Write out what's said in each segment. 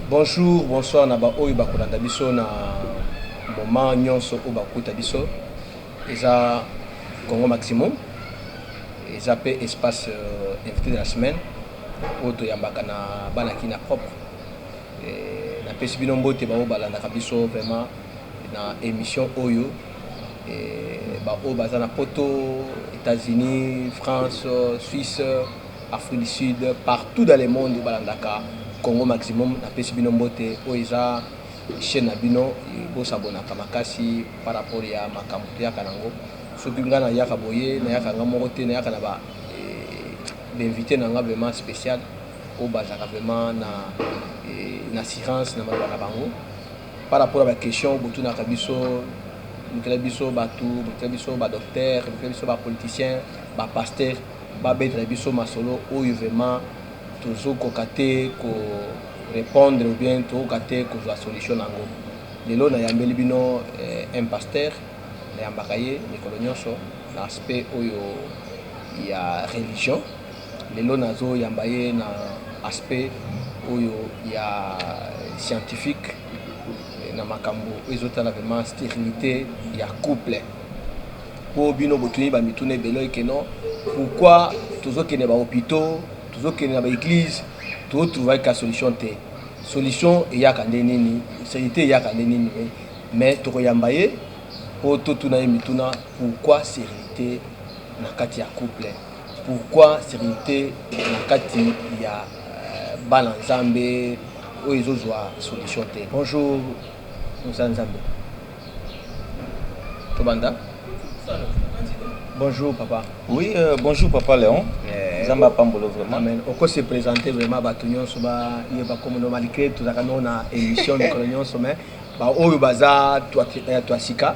Bonjour, bonsoir na ba oyo bakolanda biso na moment nyonso oyo bakuta biso eza Congo Maximum eza pe espace euh, invité de la semaine oyo toyambaka na bana kina propre napesi bino mbote baoyo balandaka biso vraiment Na emission oyo ba oyo baza na poto, etats unis, France, suisse, afrique du sud partout dans le monde balandaka congo maximum na pesi bino mbote oyo eza chaine na bino bo s'abonnaka makasi par rapport ya makambu toyaka nango soki nga na yaka boye na yaka nga moko te na yaka na ba invite na nga vraiment special oyo bazalaka vraiment na assurance na maloba na bango Par rapport na ba questions oyo botunaka biso, lukela biso batu, lukela biso ba docteurs, lukela biso ba politiciens, ba pasteurs babetela biso masolo oyo vraiment tozokoka te ko repondre ou bien tokoka te kozua solution na yango. Lelo nayambeli bino un pasteur, nayambaka ye mikolo nionso na aspect oyo ya religion. Lelo nazo yamba ye na aspect oyo ya scientifique na makambu ezo tala vraiment sterilite ya couple po bino bo tuni ba mituna ebele oye que non pourquoi tozo kende ba hopitaux tozo kende na ba eglises to trouver ka solution te solution eyaka nde nini sterilite eyaka nde nini mais toko yamba ye po to tuna ye mituna pourquoi sterilite na kati ya couple. Pourquoi sterilite na kati ya bana nzambe oyo ezo zua solution te. Bonjour mosali nzambe tobanda bonjour papa. Oui bonjour papa Leon nzambe apambola yo vraiment. Amen oko se presenter vraiment batu nionso ba yeba kombo nayo malgre tozalaka nao na emission mikolo nionso mais ba oyo baza tuasika.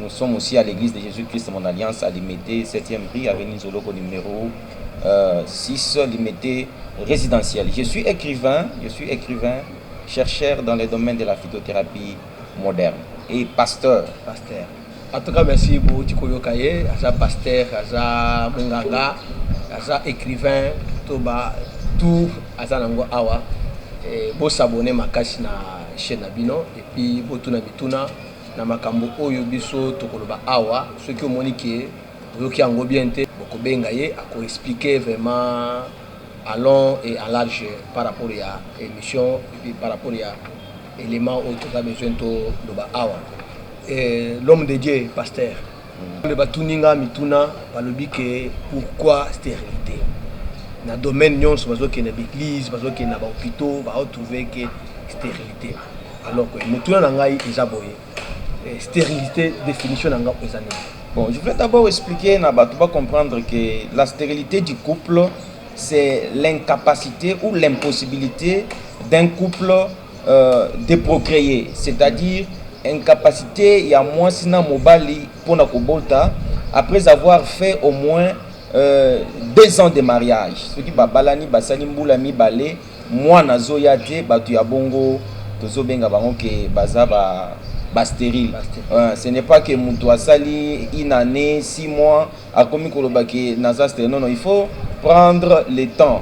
Nous sommes aussi à l'eglise de Jesus Christ mon alliance à Limete 7ème rue avenue Nzoloko numero 6 Limete residentielle je suis ecrivain je suis ecrivain chercheur dans le domaine de la phytothérapie moderne et pasteur pasteur en tout cas merci bouti koyoka ye aza pasteur aza munganga aza ecrivain to ba tout aza nango awa bo s'abonner makasi na chaîne na bino et puis botuna mituna Na makambo oyo biso tokoloba awa soki omoni que oyoki yango bien te bokobenga ye ako expliquer vraiment en long et en large par rapport ya emission et puis par rapport ya element oyo toza besoin toloba awa. L'homme de Dieu pasteur. Nzambe batuni nga mituna balobi ke pourquoi sterilite na domaine nyonso bazokende ba eglise bazokende na ba hopitaux ba retrouve ke sterilite alors que motuna na ngai eza boye eh, sterilite definition na ngai eza nini Bon, je voulais d'abord expliquer na bato ba comprendre que la stérilité du couple c'est l'incapacité ou l'impossibilité d'un couple de procree c'est à dire incapacite ya mwasi na mobali pona kobota après avoir fait au moins deux ans de mariage soki babalani basali mbula mibale mwana azoya te batu ya bongo tozo benga bango ke baza ba sterile ce n'est pas ke mutu asali une annee six mois akomi koloba ke naza sterile non non il faut prendre le temps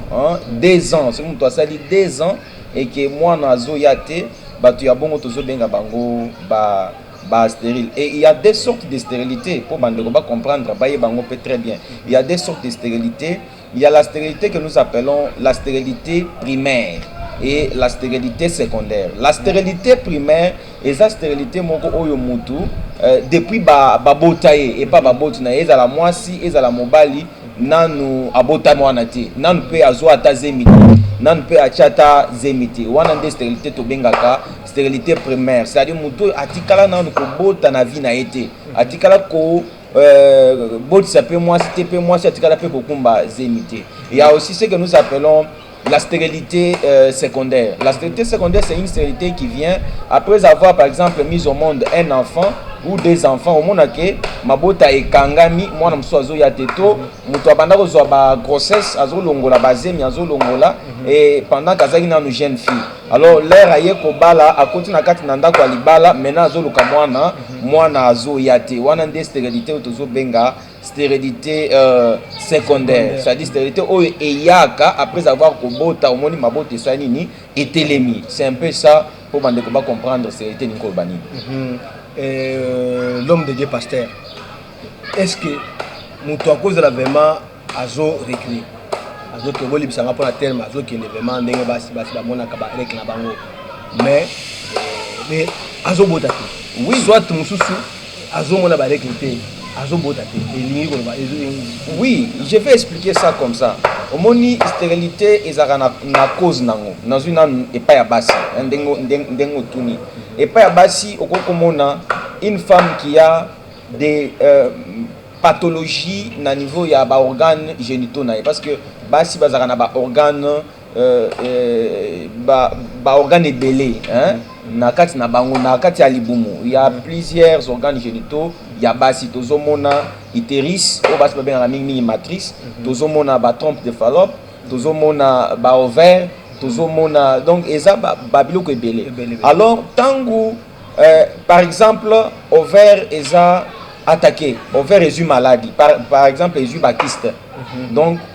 deux ans soki mutu asali deux ans et que muana azo ya te batu ya bongo tozo benga bango ba ba sterile et il ya deux sortes de sterilite po ba ndeko ba comprendre ba yeba ngo pe très bien il ya deux sortes de sterilite il ya la sterilite que nous appelons la sterilite primaire et la stérilité secondaire. La stérilité primaire, eza sterilite moko oyo mutu euh, depuis ba babota ye epa baboti na ye ezala mwasi ezala mobali nanu abota mwana te nanu pe azwa ata zemi te nanu pe atya ata zemi te wana nde sterilite tobengaka sterilite primaire c'est à dire mutu oyo atikala nanu kobota na vie na ye te atikala ko euh, botisa pe mwasi te pe mwasi atikala pe kokumba zemi te ya aussi ce que nous appelons La stérilité euh, secondaire. La stérilité secondaire, c'est une stérilité qui vient après avoir, par exemple, mis au monde un enfant ou des enfants. omona ke mabota ekangami mwana mosusu azoya te to moto abanda kozwa ba grossesse azolongola bazemi azolongola mhm. et pendant kazalaki nanu jeune fille alors lere aye kobala akoti na kati na ndako ya libala maintenant azoluka mwana mhm. mwana azoya te wana nde stérilité oyo tozobenga sterilite secondaire c'est à dire sterilite oyo eyaka après avoir kobota omoni mabota esala nini etelemi c'est un peu ça mpo bandeko ba comprendre sterilite elingi koloba nini mm -hmm. euh, l'homme de dieu pasteur est ce que moto akozala vraiment azo recule azokende bolibisa nga mpona telme azokende vraiment ndenge basi basi bamonaka bareke na bango mais euh, azobota te oui. soit mosusu azomona ba règle te azobota te elingi koloba oui je vais expliquer ça comme ça omoni sterilité ezalaka na, na cause nango nazwi nanu epai ya basi eh, ndenge, ndenge otuni epai ya basi okoki komona une femme qui a des euh, pathologie na niveau ya baorgane génitaux na ye parce que basi bazalaka na baorgane ba organes ebele na kati na bango na kati ya libumu ya plusieurs organes genitaux ya basi tozomona uterus oyo basi babengaka mingi mingi matrice mhm. tozomona ba trompe de fallope tozomona ba ovaire tozomona donc eza babiloko ba ebele alors ntango euh, par exemple ovaire eza attaqué ovaire ezwi maladi par, par exemple ezwi bakiste mm -hmm. donc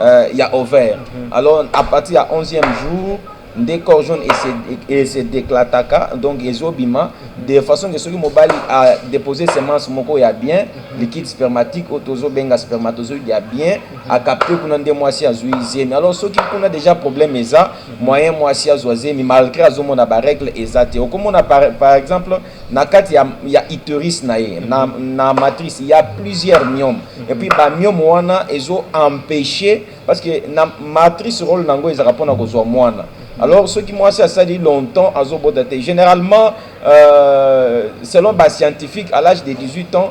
euh, ya ovaire mm -hmm. alors à partir ya 11e jour nde corps jaune ese déclataka donc ezobima mm -hmm. de façon que soki mobali a déposé semence moko ya bien mm -hmm. liquide spermatique oyo tozobenga spermatozoïde ya bien mm -hmm. akapte kuna nde mwasi azwi zemi alors soki kuna déjà problème eza mm -hmm. moyen mwasi azwa zemi malgré azomona barègle eza te okomona par, par exemple na kati ya, ya uterus na ye na, na matrice ya plusieurs myome et puis ba myome wana ezo empêcher parce que na matrice role na yango ezalaka mpona kozwa mwana alors soki mwasi asali longtemps azobota te généralement euh, selon ba scientifique à l'âge de 18 ans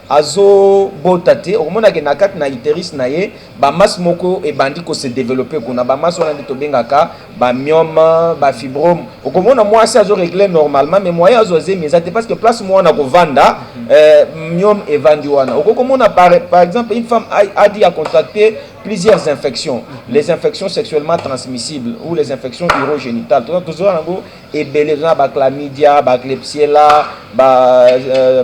azo bota te okomona ke na kati na uterus na ye ba masse moko ebandi ko se developper kuna ba masse wana nde tobengaka ba myome ba fibrome okomona mwasi azo régler normalement mais moyen azo zemi eza te parce que place mwana kovanda euh, myome evandi wana okokomona par, par exemple une femme a, a dit à contracter plusieurs infections les infections sexuellement transmissibles ou les infections urogénitales toza tozoa yango ebele toza na ba chlamydia ba klebsiella ba euh,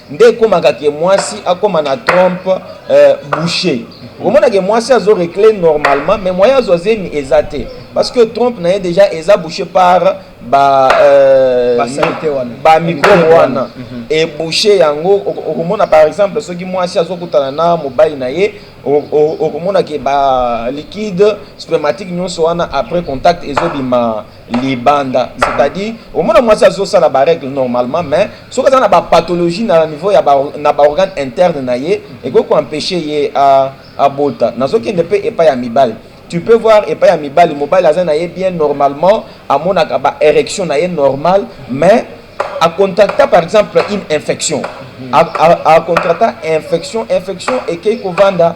nde ekomaka ke mwasi akoma na trompe euh, boucher okomona ke mwasi azo recle normalement mais moyen azwa zemi eza te parce que trompe na ye déjà eza boucher par ba euh, ba microbe wana mhm. e boucher yango okomona par exemple soki mwasi azokutana na mobali na ye okomona ke ba liquide spermatique nyonso wana après contact ezobima libanda c'est-à-dire omona mwasi azosala baregle normalement mais soki aza na bapathologie na niveau ya na baorgane interne na ye ekoki koempeshe ye abota nazokende mpe epai ya mibali tu peux voir epai ya mibali mobali aza na ye bien normalement amonaka baérection na ye normal mais acontracta par exemple une infection acontracta infection infection ekei kovanda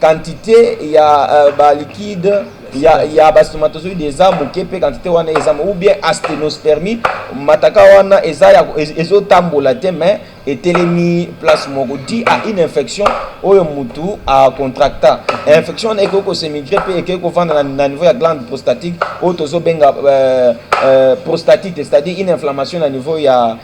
Quantite ya uh, ba liquide ya, ya ba spermatozoïde eza moke mpe quantité wana eza ou bien asténospermie mataka wana eza ya ezotambola te mais etelemi place moko dit à une infection oyo mutu a contracta infection wana ekoki kosemigre mpe ekoki kovanda na, na niveau ya glande prostatique oyo tozobenga euh, euh, prostatite c'est-à-dire une inflammation na niveau ya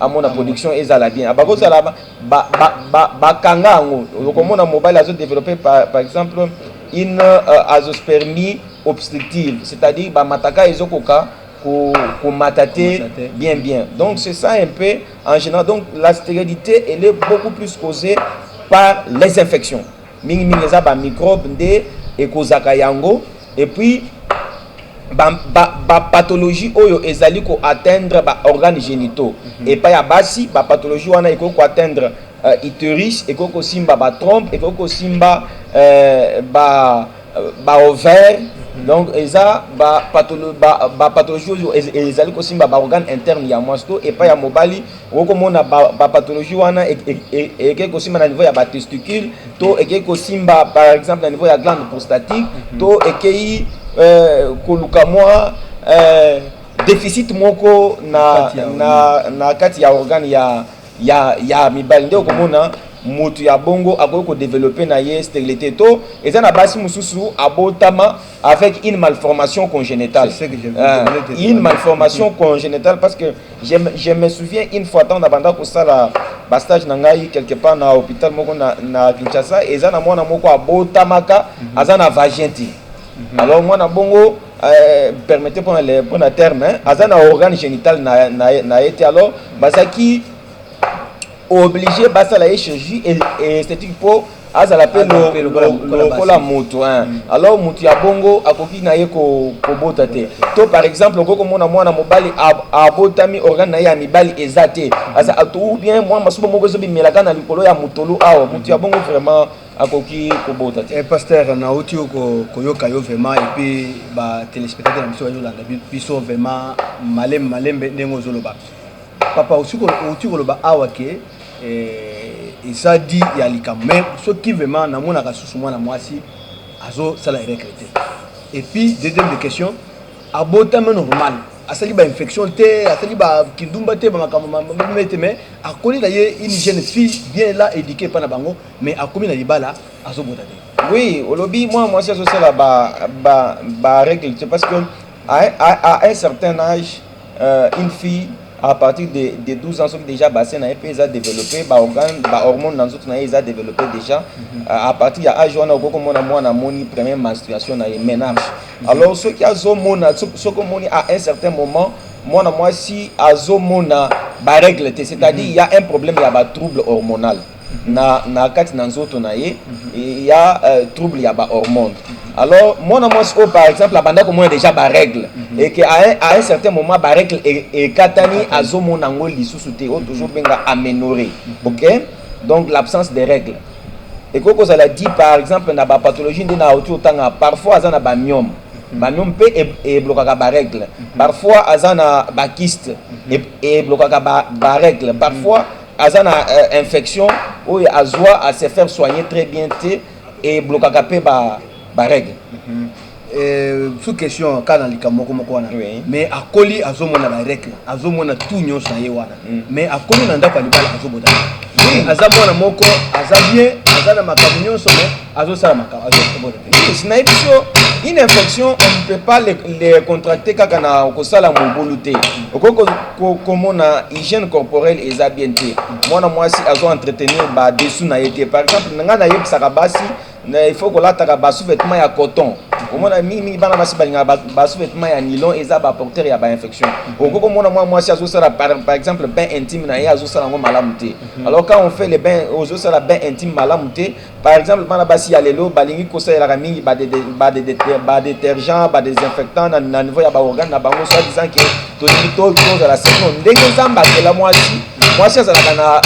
amona production ezala bien abako zala bakanga yango okomona mobali azo developpe par exemple une euh, azospermie obstructive c'est-à-dire bamataka ezokoka komata te bien bien donc c'est ça un peu en général donc la stérilité elle est beaucoup plus causée par les infections mingi mingi eza ba microbe nde ekozaka yango et puis ba, ba, ba pathologie oyo ezali ko atteindre ba organes génitaux mm -hmm. epai ya basi ba pathologie wana ekoki ko atteindre uh, uterus ekoki kosimba ba trompe ekoki kosimba uh, ba, euh, ba ovaire mhm. donc eza ba, patholo, ba, ba pathologie oyo ezali kosimba ba organe interne ya mwasi to epai ya mobali okomona bapathologie ba wana ekei e, e, e, kosimba na niveau ya batesticule to ekei kosimba par exemple na niveau ya glande prostatique mhm. to ekei eh, koluka mwa eh, deficit moko na, na, na kati ya organe ya, ya, ya mibali nde okomona motu ya bongo akoki kodevelope na ye sterilité to eza na basi mosusu abotama avec une malformation congénitale. C'est ce que je veux euh, Une malformation congénitale parce que je, je me souviens une fois tant d'abanda ko sala ba stage na ngai quelque part na hôpital moko na, na Kinshasa eza na mwana moko abotamaka mm -hmm. aza na vagin te. Mm -hmm. Alors mwana bongo euh, permettez pour le pour le terme hein, aza na organe génital na na, na été alors bazaki obligé basala ye chirurgie esthétique pour azala mpe lokola moto mm. alors moto ya bongo akoki na ye kobota te to par exemple okoki komona mwana mobali abotami organe na ye ya mibali eza te ou bien mwa masuba moko ezobimelaka na likolo ya motolu awa moto ya bongo vraiment akoki kobota te eh, pasteur nauti koyoka yo vraiment epuis batelespectateur na biso bazolanda biso vraiment malembe malembe ndenge ozoloba papa outi koloba awa ke eh, eza di ya likambo me soki vraiment namonaka susu mwana mwasi azosala erekle te epuis deuxième de question abotami normal asali bainfection te asali bakindumba te bamakambo mabime te mais akoli na ye une jeune fille bien la éduqué epai na bango mais akomi na libala azobota te oui olobi mwana mwasi azosala barègle te parce que à un certain âge Euh une fille à partir de, de 12 ans soki dejà bassin na ye mpe eza developpe ba organe ba hormone na nzoto na ye eza developpe dejà mm -hmm. à partir ya age wana okoki komona mwana amoni première menstruation na ye menage mm -hmm. alors soki azomona soki omoni à un certain moment mwana mwasi azomona barègle te c'est-à-dire mm -hmm. ya un problème ya batrouble hormonal na na kati na nzoto na ye ya euh, trouble ya ba hormones alors mwana mwasi oyo par exemple abanda komona déjà ba règle mhm. et que à un certain moment ba règle e, ekatani mhm. azomona yango lisusu te oyo toujours benga aménorrhée mhm. ok donc l'absence de règle ekoki kozala dit par exemple na ba pathologie nde na auti otanga parfois aza na ba myome ba myome mpe e, eblokaka ba règle parfois aza na ba kyste eblokaka ba règle parfois aza na euh, infection oyo azwa a se faire soigner très bien te eblokaka mpe barègle mhm. euh, sous question kaka na likambo moko moko wana mais akoli azomona barègle azomona tout nyonso na ye wana mm. mais akoli na ndako ya libala azobota aza mwana moko aza bien aza na makambo nyonso mais azosala makambo Tous na biso une infection on ne peut pas les, les contracter kaka na kosala mobulu te okoki komona hygiène corporelle eza bien te mwana mwasi azo entretenir ba dessous na ye te par exemple ngai nayebisaka basi na il faut kolataka ba sous-vêtements ya coton omona mingimingi bana basi balingaka ba sous-vêtements ya nilon eza ba porteur ya ba infection okoki komona mwana mwasi azosala par, par exemple bain intime na ye azosala yango malamu te mhm. alors quand on fait le bain ozosala bain intime malamu te Par exemple, bana basi ya lelo balingi kosalelaka mingi ba detergent, ba desinfectant na, na niveau ya baorgane na bango soit disant ke tolingi tozala sino ndenge nzambe akela mwasi mwasi azalaka na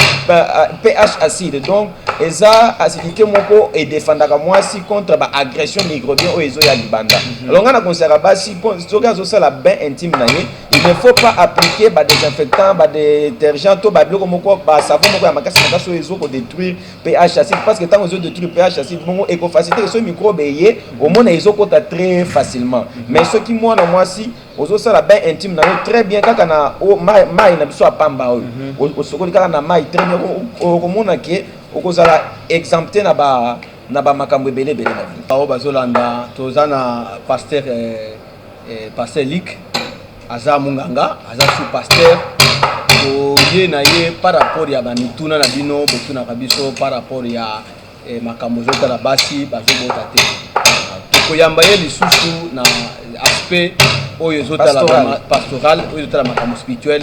ph acide donc eza acidité moko edefandaka mwasi contre ba agression microbien oyo ezo ya libanda mhm. alors ngai na conseillaka basi soki azosala bain intime na ye il ne faut pas appliquer ba desinfectant ba detergent to ba biloko moko ba savon moko ya makasi makasi oyo ezo kodétruire pH acide parce que tant ozo détruire pH acide bongo eko faciliter ce microbe eye omona ezo kota très facilement mais ce qui moi na moi si ozo sala bain intime na très bien kaka na o mai mai na biso apamba oyo mhm. osokoli kaka na mai très bien okomona que okozala exempté na ba na ba makambo ebele ebele na vie. Bazo bazolanda toza na pasteur eh, eh, pasteur Lick aza munganga aza sous pasteur oye na ye par rapport ya bamituna na bino botunaka biso par rapport ya eh, makambo ezotala basi bazobota te tokoyamba ye lisusu na aspect oyo ezotala pastoral oyo ezotala makambo spirituel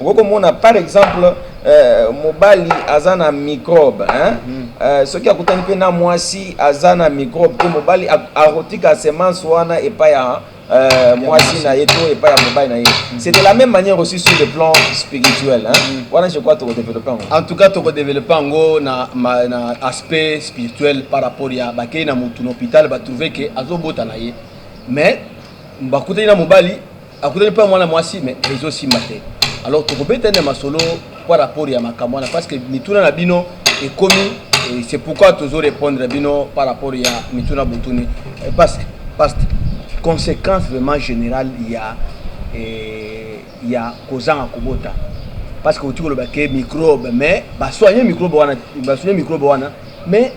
okoki komona par exemple euh, mobali aza na microbe hein? Mm. Euh, soki akutani mpe na mwasi aza na microbe te mobali akotika semence wana epai ya euh, mwasi na ye to epai ya mobali na ye mm. c'est de la même manière aussi sur le plan spirituel hein? Mm. wana je crois tokodeveloppe yango en tout cas tokodeveloppe yango na, na aspect spirituel par rapport ya bakei na motu na hôpital batrouve ke azobota na ye mais bakutani na mobali akutani mpe mwana mwasi me ezosimba te alors tokobeta nde masolo par rapport ya makambo wana parce que mituna na bino ekomi c'est pourquoi tozo répondre bino par rapport ya mituna botuni eh, parce que parce que conséquence vraiment générale ya eh, ya kozanga kobota parce que otiki koloba ke microbe mais basoigne microbe wana basoigne microbe wana mais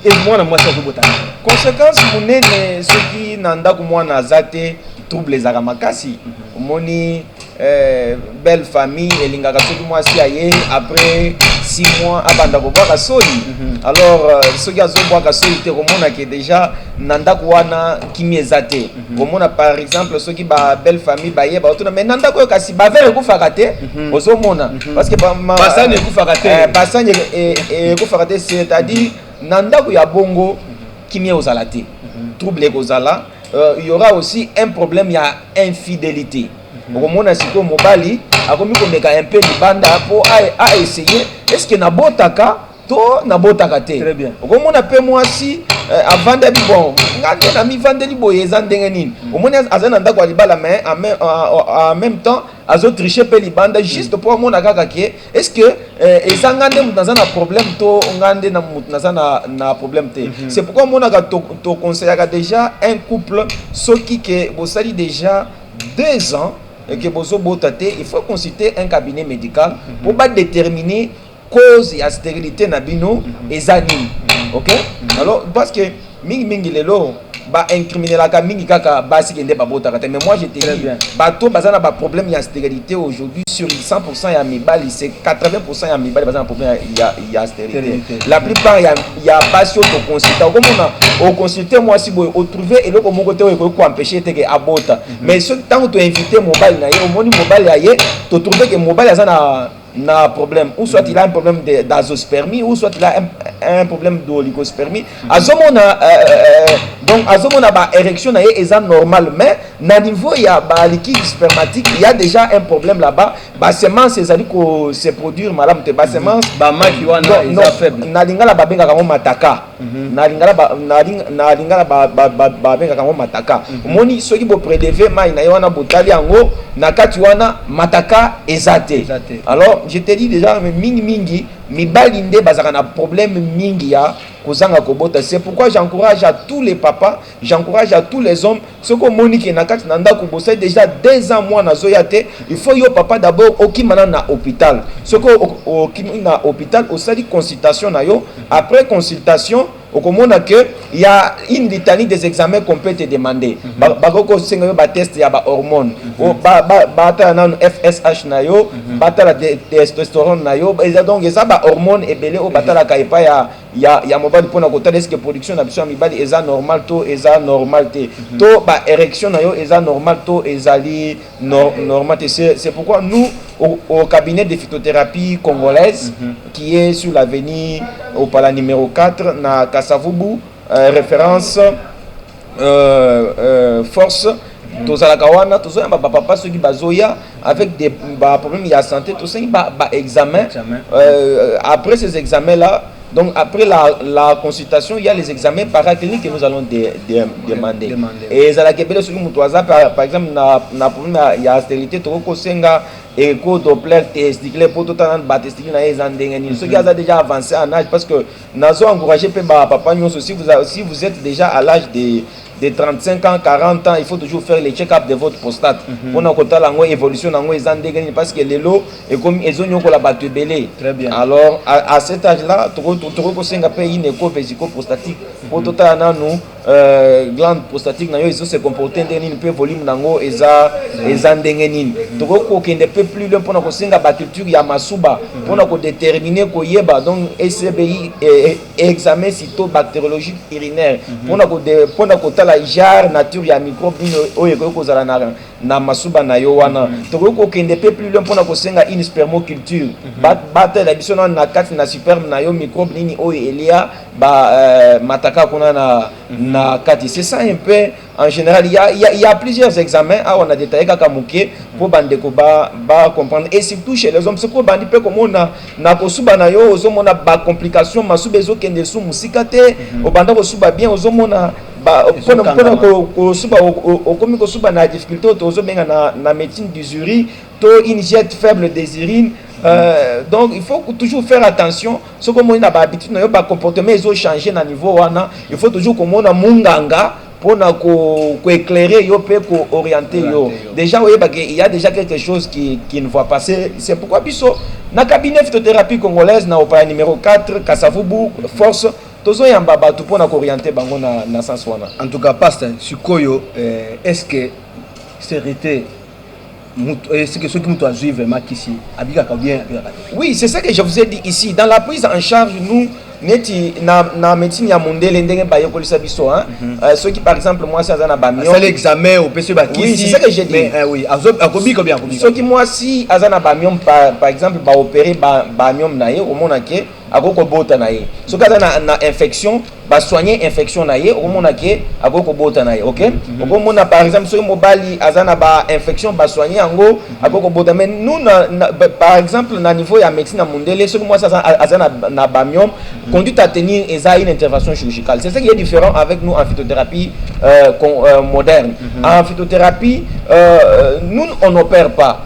e mwana mwasi azobota conséquence monene soki na ndako mwana aza te trouble ezalaka makasi omoni eh, belle famille elingaka soki mwasi aye après six mois abanda kobwaka soi mhm. alors euh, soki azobwaka soi te komona ke déjà na ndako wana kimia eza te komona par exemple soki ba belle famille baye baotuna mais na ndako oyo kasi bavere ekufaka te mhm. ozomona mhm. parce que basani ekufaka te eh, basani e, e, ekufaka te c'est à dire na ndako ya bongo kimia ozala te mhm. trouble ekozala euh, il y aura aussi un problème ya infidélité okomona sikoyo mobali akomi komeka un peu libanda mpo aessaye est ce que nabotaka to nabotaka te okomona mpe mwasi eh, avandaki bon nga nde namivandeli boye eza ndenge nini mm. omoni azali na ndako ya libala mais en même temps azotriche mpe libanda mm. juste mpo amona kaka ke est ce que eh, eza nga nde moto naza na problème to nga nde na moto naza na, na problème te mm -hmm. c'est pourquoi omonaka toconseillaka to déjà un couple soki ke bosali déjà deux ans mm. ke bozobota te il faut consulter un cabinet médical mm -hmm. mpo badéterminer cause ya sterilite na bino eza nini ok alors parce que mingi mingi lelo ba incriminelaka mingi kaka basi kende babotaka te mais moi je te dis bato baza na ba problème ya sterilite aujourd'hui sur 100% ya mibali c'est 80% ya mibali baza na problème ya, ya sterilite la plupart ya, ya basi oyo toconsulte okomona oconsulte mwasi boye otrouve eloko moko te oyo ekoki koempeshe te ke abota mhm. mais soki ntango toinvite mobali na ye omoni mobali ya ye totrouve ke mobali aza na na problème ou soit il a un problème de d'azospermie ou soit il a un, un problème d'oligospermie mm-hmm. azomona euh, euh, euh, donc azomona ba érection na ye eza normal mais na niveau ya ba liquide spermatique il y a déjà un problème là-bas ba semence ezali ko se produire malamu te ba mm-hmm. semence ba maki wana eza faible na lingala babengaka yango mataka na lingala ba na na lingala ba ba ba ba benga kango mataka omoni mhm. soki bo predeve mai na ye wana botali yango na kati wana mataka eza te alors je te dis déjà mingi mingi mibali nde bazaka na problème mingi ya kozanga kobota c'est pourquoi j'encourage à tous les papas J'encourage à tous les hommes soki omoni ke na kati na ndako bosali dejà deux ans mwana azoya te il faut yo papa d'abord okima nanu na hopital soki okimi na hopital osali consultation na yo après consultation okomona que il y a une litanie des examens qu'on peut te demander bakoki kosenga yo ba test ya ba hormones batala nanu FSH na yo batala testosterone na yo eza donc eza ba hormones ebele oyo batalaka epai ya ya ya mobali pona kotala eske production na biso ya mibali eza normal to eza normal te mhm. to ba erection na yo eza normal to ezali no, normal te c'est pourquoi nous au, au cabinet de phytothérapie congolaise mm -hmm. qui est sur l'avenue opala numéro 4 na kasavubu euh, référence euh, force tozalaka wana tozoyamba bapapa soki bazoya avec baproblème ya santé tosengi baexamen euh, après ces examens là donc après la, la consultation il y a les examens paracliniques que nous allons de, de, demander. demander et ezalaka ebele soki moto aza par exemple na, na problème ya stérilité tokoki kosenga eko doppler testicule mpo totala batesticule na ye eza ndenge nini soki aza déjà avancé en âge parce que Nazo encourager pe ba papa nyoso si vous, si vous êtes déjà à l'âge de de 35 ans 40 ans il faut toujours faire le check up de votre prostate mhm. pona ko tala ngo évolution nango eza ndenge nini parce que lelo ekomi ezo nyokola bato ebele alors à, à cet âge là toko toko ko senga pe une écho vesico prostatique po mhm. totala nanu Euh, glande prostatique na yo ezo se comporter ndenge nini mpe volume na yango eza eza ndenge nini tokoki kokende mpe plus loin mpona kosenga baculture ya masuba mpona kodetermine koyeba donc ecbi e, e, examen cito bactériologique urinaire mpona mpona kotala genre nature ya microbe nini oyo ekoki kozala na na masuba na yo wana tokoki kokende mpe plus loin mpona kosenga une spermoculture batela biso na kati na superme na yo microbe nini oyo elia ba euh, mataka kuna na, mhm. na kati c'est ça un peu en général il y a, y, a, y a plusieurs examens awa na detaille kaka moke mpo bandeko ba, ba comprendre et surtout chez les hommes soki obandi mpe komona na kosuba na yo ozomona bacomplication masuba ezokende su mosika te mhm. obanda kosuba bien ozomona mpona kosuba okomi kosuba na difficulté oyo tozobenga na, na médecine du jury to une jette faible desirine Euh, donc il faut toujours faire attention soki omoni na bahabitude na yo bacomportement ezo change na niveau wana il faut toujours komona munganga mpona koeclaire yo mpe kooriente yo déjà oyebaka il y a déjà quelque chose qui, qui ne voit pas c'est pourquoi biso na cabinet phytothérapie congolaise na opaya numéro 4 kasavubu force tozoyamba bato mpona kooriente bango na, na sens wana en tout cas paste sikoyo eh, est ce que serite Mutu, eh, ce que soki mutu azui vraiment kisi abikaka ou bien abikaka te. Oui, c'est ça que je vous ai dit ici dans la prise en charge nous neti na, na médecine ya mundele ndenge bayekolisa biso hein? mm -hmm. euh, soki par exemple mwasi aza na bamio asali examen opesi bakisi oui, c'est ça que j'ai dit mais, euh, oui, akobika bien akobika soki mwasi aza na bamio par, par exemple baopere bamio ba na ye omona ke akoki kobota na ye soki aza na, na infection basoigne infection na ye okomona ke akoki kobota na ye ok mhm. okomona par exemple soki mobali aza na bainfection basoigne yango mhm. akoki kobota mais nous na, na, par exemple na niveau ya médecine ya mondele soki mwasi aza, aza na, na bamiome mhm. conduite à tenir eza une intervention chirurgicale c'est ce qui est différent avec nous en phytothérapie euh, con, euh, moderne en phytothérapie euh, nous on n'opère pas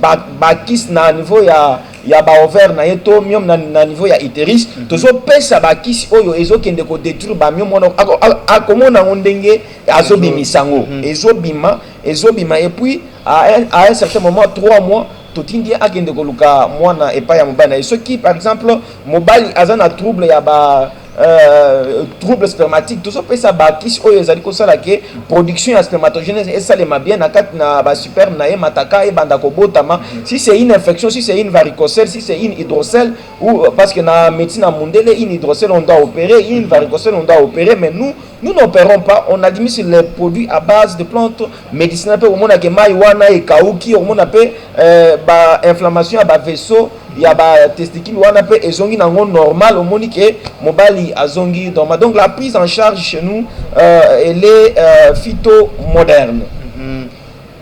ba ba kiss na niveau ya ya ba ovaire na ye to myome na, na niveau ya uterus mm -hmm. tozopesa bakisi oyo ezokende kodetruire bamyome wana akomona yango ndenge azobimisa yango mm -hmm. ezobima ezobima epuis à un certain moment trois mois totindi ye akende koluka mwana epai ya mobali na ye soki par exemple mobali aza na trouble ya ba Euh, trouble spermatique tozopesa bakisi oyo ezali kosala ke production ya spermatogenèse esalema bien na kati na basuperme na ye mataka ebanda kobotama si c'est une infection si c'est une varicocele si c'est une hydrocele ou euh, parce que na médecine ya mundele une hydrocele on doit opérer une varicocele on doit opérer mais nous Nous n'operons pas, on administre les produits à base de plantes medicinales pe omona ke mai wana ekauki, omona pe euh, ba inflammation ya ba vaisseaux ya ba testicules wana pe ezongi nango normal, omoni ke mobali azongi normal. Donc la prise en charge chez nous euh, elle est euh, phyto moderne. Mm-hmm.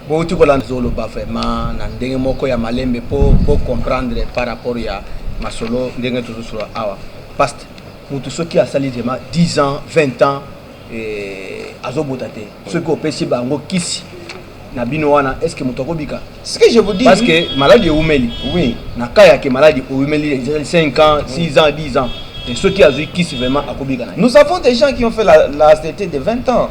Bouti kolanda zoloba vraiment na ndenge moko ya malembe po po comprendre par rapport ya masolo ndenge tozosolo awa. Pasteur Mutu soki asali vraiment 10 ans 20 ans eh, azobota te soki opesi bango kisi na bino wana est ce que moto akobika ce que je vous dis parce que maladi ewumeli oui na cas ya ke maladi ewumeli ezali 5 ans 6 ans 10 ans et ceux qui azui kisi vraiment akobika na nous avons des gens qui ont fait la, la ACT de 20 ans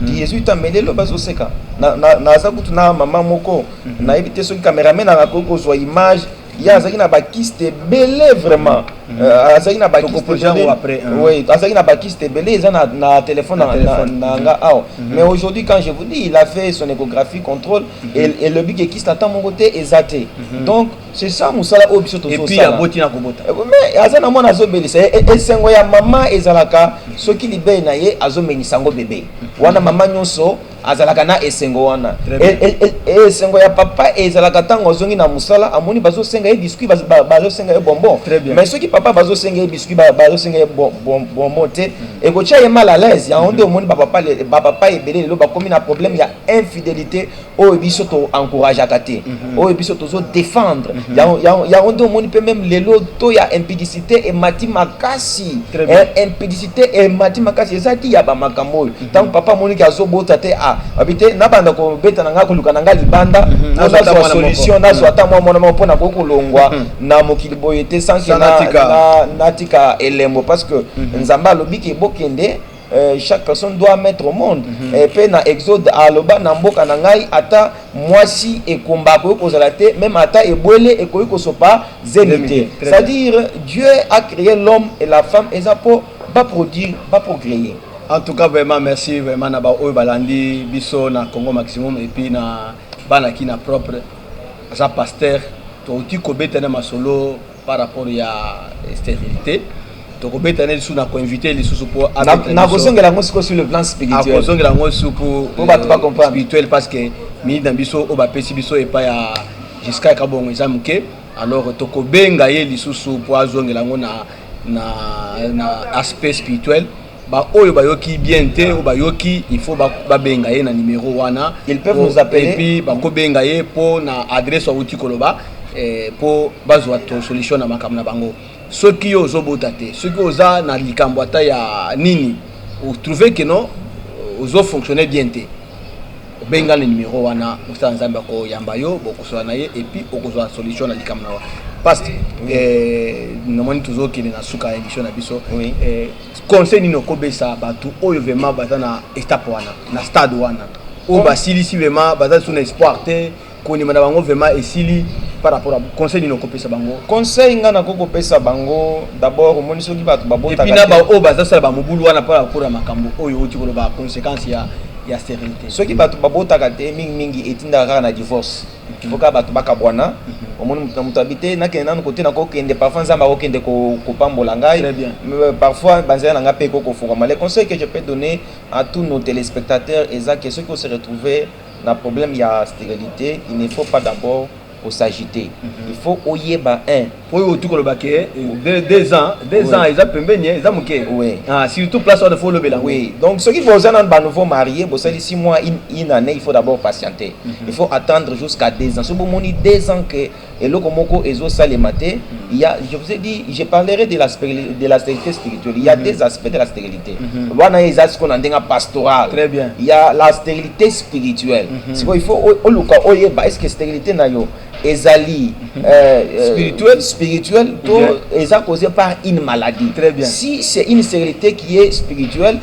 mhm. qui ezui temps mais lelo bazoseka naza kutu na mama moko mhm. nayebi te soki cameraman akoki kozwa image ye azalaki na bakiste ebele vraiment mm. euh, azalaki na bakistebeleazalaki na bakiste ebele eza na telefone na nga mm-hmm. awa mm-hmm. mais aujourd'hui quand je vous dis il a fait son échographie contrôle mm-hmm. elobi ke kiste ata moko te eza te donc c'est ça mosala oyo biso tozosalaboti na kobota eh, mais aza na mwana azobelisa ye eh, esengo ya mama ezalaka soki libei na ye azomenisa yango bebe wana mama nyonso mm -hmm. azalaka na esengo wana esengo ya papa ezalaka ntango azongi na mosala amoni bazosenga ye biscuit bazosenga ye bonbon mais soki papa bazosenga ye biscuit bazosenga ye bonbon te mm. ekotya ye mal à l'aise yango nde mm. omoni bapapa ebele lelo bakomi na problème ya infidélité oyo biso to encourageaka te mm-hmm. oyo biso tozo défendre mm-hmm. yango nde omoni mpe meme lelo to ya impudicité emati makasi impudicité emati makasi ezalaki ya bamakambo oyo ntango papa amoniki azobota te a babi te nabanda kobeta na ngai koluka na ngai libanda mpo mhm. nazwa solution nazwa mhm. ata mwa mwana moko mpo na koki kolongwa mhm. na mokili boye te sanke natika elembo parce que nzambe alobi ke bokende Euh, chaque personne doit mettre au monde mm -hmm. mpe na exode aloba na mboka na ngai ata mwasi ekomba akoki kozala te meme ata ebwele ekoki kosopa zemi te c'est à dire dieu a créé l'homme et la femme eza mpo baproduire baprocréer En tout cas vraiment merci vraiment na ba oyo balandi biso na Congo maximum et puis na bana ki na propre aza pasteur touti kobeta na masolo par rapport ya sterilité tokobeta na lisusu na koinvite lisusu mpo nakozongela yango sikoyo sur le plan spirituel akozongela yango lisusu mpo bato bacomprendre spirituel parce que mingi na biso oyo bapesi biso epai ya jusqu'à kabongo eza moke alors tokobenga ye lisusu mpo azongela yango na na, na aspect spirituel baoyo bayoki bien te oyo bayoki il faut babenga ye na numero wana epuis bakobenga ye mpo na adresse awuti koloba mpo eh, bazwa to solution na makambo na bango soki yo ozobota te soki oza na likambo ata ya nini otrouve ke no ozofonctionne bien te Benga na numero wana mosali ya Nzambe ako yamba yo boko solola na ye et puis oko zua solution na likambo na yo. Past eh, na moni tozo kende na suka ya emission na biso. Oui. Eh, conseil nini oko besa batu oyo vraiment baza na estape wana, na stade wana. Oyo basilisi vraiment baza lisusu na espoir te. Kondima na bango vraiment esili par rapport à conseil nini okopesa bango? Conseil nga na kokopesa bango d'abord omoni soki bato babotaka. Et puis na ba oyo baza sala ba mobulu wana par rapport à makambo oyo oti koloba consequence ya ya sterilité. Soki bato babotaka te mingi mingi etindaka kaka na divorce. Il faut kaka bato bakabwana. Omoni moto na moto abi te nakende nanu kote nakokende parfois Nzambe akokende kopambola ngai. Très bien. Euh, parfois banzela na ngai mpe ekokofungwama. Le conseil que je peux donner à tous nos téléspectateurs eza que soki ose retrouver Na problème ya sterilite il ne faut pas d'abord ko s'agiter il faut oyeba un oyo otu koloba ke deux ans deux ans eza pembeni eza moke ah, surtout place wana faut olobela oui donc soki boza na ba nouveau marié bosali six mois une année il faut d'abord patienter mhm. il faut attendre jusqu'à deux ans soki bomoni deux ans que eloko moko ezo salema te ya je vous ai dit je parlerai de la de la stérilité spirituelle il y a mm -hmm. des aspects de la stérilité mm -hmm. wana eza siko na ndenga pastoral très bien il y a la stérilité spirituelle mm -hmm. siko il faut oluka oyeba est-ce que stérilité na yo ezali mhm. euh, euh, spirituel spirituel to eza causé par une maladie très bien si c'est une stérilité qui est spirituelle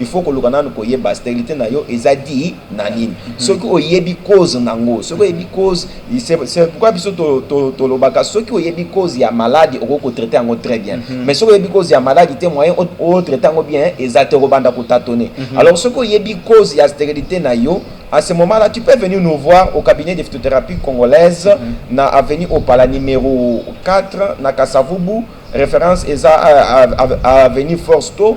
il faut koluka nanu koyeba sterilite na yo eza di na nini mhm. soki oyebi cause na yango soki oyebi cause c'est pourquoi biso tolobaka soki oyebi cause ya maladi okoki kotraite yango très bien mhm. mais soki oyebi cause ya maladi te moyen otraite yango bien eza te okobanda kotatone mhm. alors soki oyebi cause ya sterilite na yo à ce moment-là, tu peux venir nous voir au cabinet de phytothérapie congolaise, mm -hmm. na avenue Opala numéro 4, na Kasavubu, référence est à, à, à, à avenue Forsto,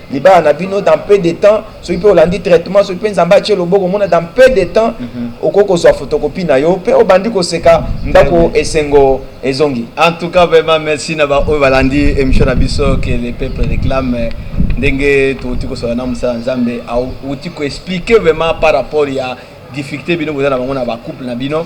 libala na bino dans peu de temps soki mpe olandi traitement soki mpe nzambe atie loboko omona dans peu de temps mhm. okoki kozwa photocopie na yo mpe obandi koseka ndako esengo ezongi en tout cas vraiment merci na baoyo balandi émission na biso que le peuple réclame ndenge touti kosala na mosala nzambe auti koexplike vraiment par rapport ya difficulté bino boza na bango na bacouple na bino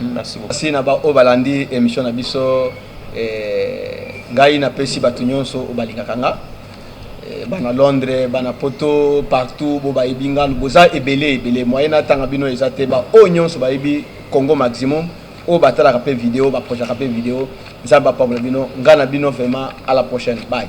Merci beaucoup. Merci na ba oyo balandi emission na biso eh, ngai napesi bato nyonso oyo balingaka nga eh, bana Londres bana Poto partout bo bayebi nga boza ebele ebele moyen natanga bino eza te ba oyo nyonso bayebi Congo maximum oyo batalaka mpe video baprojaka mpe video nzambe apambola bino ngai na bino vraiment à la prochaine bye